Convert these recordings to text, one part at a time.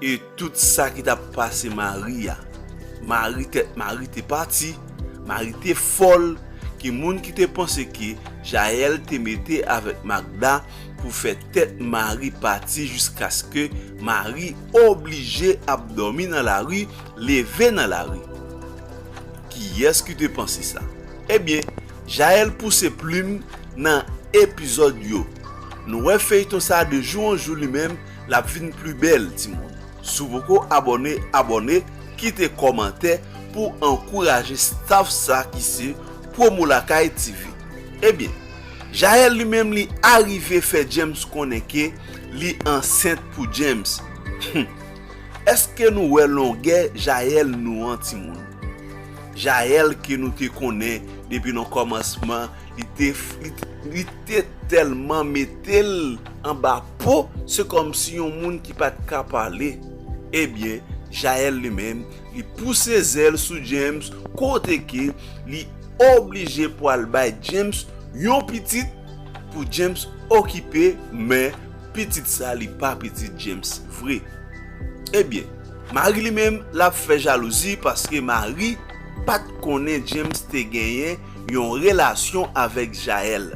E tout sa ki t ap pase Mari a? Mari, tèt Mari te pati, Mari te fòl, ki moun ki te panse ke Jael te mete avèk Magda pou fè tèt Mari pati jiskaske Mari oblije ap dòmi nan lari, leve nan lari? Kiyès ki te panse sa? Ebyen, Jael pouse plim nan epizòd yo. Nou wè feyton sa de jou an jou li menm Lap vin pli bèl timoun. Sou poko abòne abòne kite kòmantè pou ankouraje staff sa ki se promo lakay TV ebyen Jael li menm li arive fè James konnen ke li ansent pou James humm eske nou wè longè Jael nou an timoun Jael ke nou te konnen depi nan kòmansman Li te tèlman mete l anba po, se kòmsi yon moun ki pa t ka pale. Ebyen, Jael li menm, li pouse zèl sou James kote ke li oblije pwal bay James yon pitit pou James okipe, men pitit sa li pa pitit James vre. Ebyen, Marie li menm, l ap fè jalouzi paske Marie pa t konnen James te genyen yon relasyon avèk Jael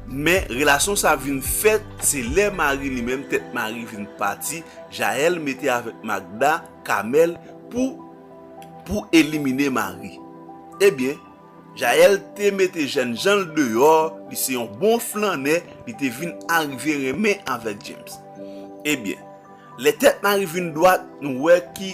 men relasyon sa vin fèt se lè mari li menm tèt mari vin pati Jael mete avèk Magda Kamèl pou pou elimine mari ebyen Jael te mete jènjanl deyò li se yon bon flannè li te vin arive renmen avèk James ebyen lè tèt mari vin dwat nou wè ki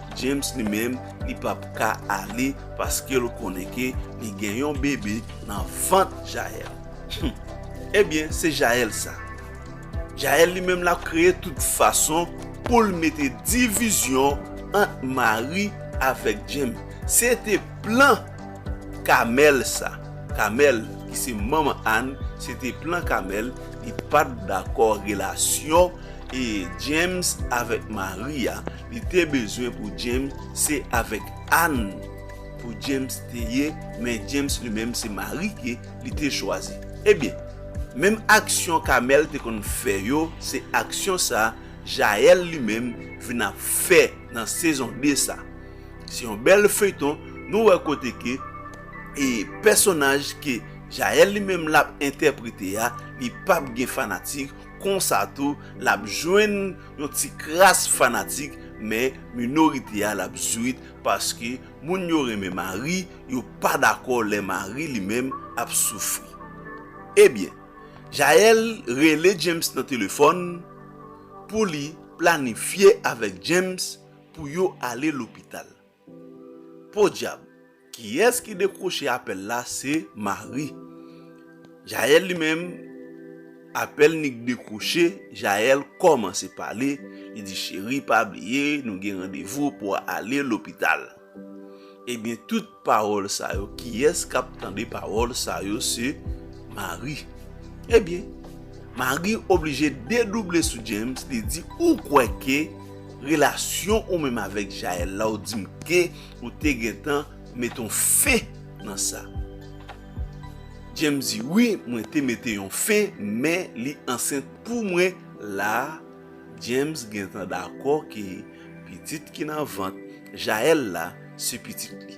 James li menm li pap ka ale paskel konnen ke li gen yon bebe nan vant Jael humm ebyen se Jael sa Jael li menm lap kreye tout fason poul mete divizyon ant Mari avèk James se te plan Kamèl sa Kamèl ki se manman Anne se te plan Kamèl li pat dakò relasyon James avèk Mari a. Li te bezwen pou James se avek Anne pou James te ye men James li menm se Marie ke li te chwazi. Ebyen menm aksyon Kamel te konn fè yo se aksyon sa Jael li menm vin ap fè nan sezon 2 sa. Se yon bèl feyton nou wè kote ke e pèsonaj ke Jael li menm lap entèprete a li pap gen fanatik konsa tou lap jwenn Yon ti kras fanatik men minorite a lap zwit paske moun yo renmen Mari yo pa dakò lè Mari li menm ap soufri. Ebyen Jael rele James nan telefòn pou li planifye avèk James pou yo ale lopital. Podyab! Kiyès ki dekwoche apèl la se Mari. Jael li menm, apèl Nik dekwoche, Jael kòmanse pale, li di cheri pa bliye nou gen randevou pou ale lopital. Ebyen tout pawòl sa yo kiyès kap tande pawòl sa yo se Mari. Ebyen Mari oblije dedouble sou James li di ou kwè ke Relasyon ou menm avèk Jael la ou dim k ou te gentan met on fen nan sa. James di wi mwen te mete yon fen men li ansent pou mwen la James gentan dakò ke pitit ki nan vant Jael la se pitit li.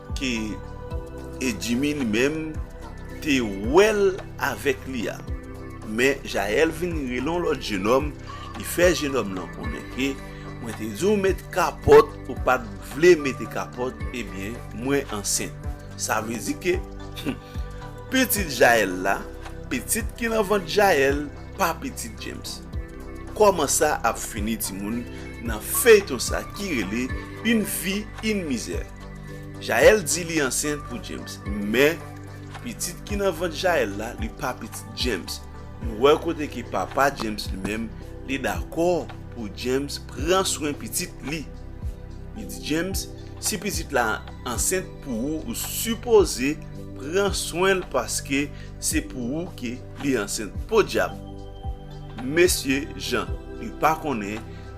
Ke Edjimi li menm te wèl avèk li a. Men Jael vin rele yon lòt jenòm, li fè jenòm lan konnen ke mwen te di w met kapòt ou pat vle mete kapòt ebyen mwen ansent. Sa vle di ke pitit Jael la, pitit ki nan vant Jael pa pitit James. Kòman sa ap fini timoun nan feyton sa ki rele Une vie une misère. Jael di li ansent pou James men pitit ki nan vant Jael la li pa pitit James nou wè kote ke papa James li menm li dakò pou James pran swen pitit li li di James si pitit la ansent pou ou ou sipoze pran swenl paske se pou ou ke li ansent podyab mesye jan li pa konnen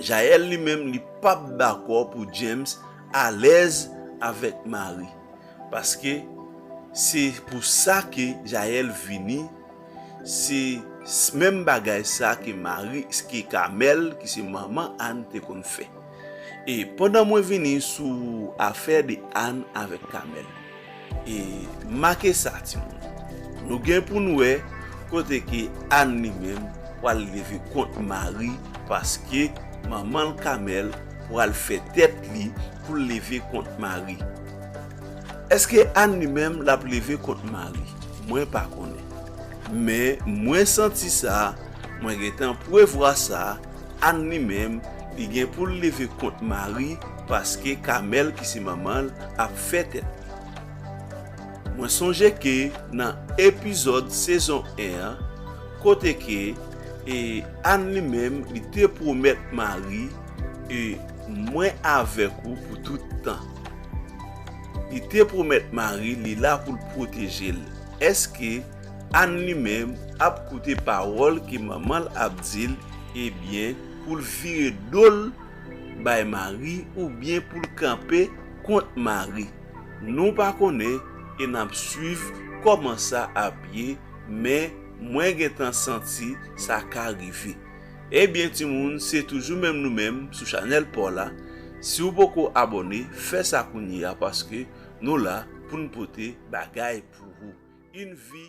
Jael li menm li pap dakò pou James alèz avèk Mari paske se pou sa ke Jael vini se menm bagay sa ke Mari ke Kamèl ki se manman Anne te konn fè e pandan mwen vini sou afè de Anne avèk Kamèl. E make sa timoun, nou gen pou n wè kote ke Ann li menm pral leve kont Mari paske manman l Kamèl pral fè tèt li pou l leve kont Mari. Eske Ann li menm l ap leve kont Mari? Mwen pa konnen. Men mwen santi sa, mwen gen tan pwevwa sa, Ann li menm li gen pou l leve kont Mari, Paske Kamèl ki se manman l ap fè tèt li. Mwen sonje ke nan epizòd sezon 1 an kote ke e Anne li menm li te pwomèt Mari e mwen avèk ou pou tout tan. Li te pwomèt Mari li la pou l pwoteje l. Eske Anne li menm ap koute pawòl ke manman l ap di l ebyen pou l vire do l bay Mari oubyen pou l kanpe kont Mari. Nou pa konnen e n ap suiv kòman sa ap ye men mwen gentan santi sa ka rive. Ebyen timoun se toujou menm nou menm sou chanèl paw la, si w poko abòne fè sa kounye a paske nou la pou n pote bagay pou ou. Yn vi.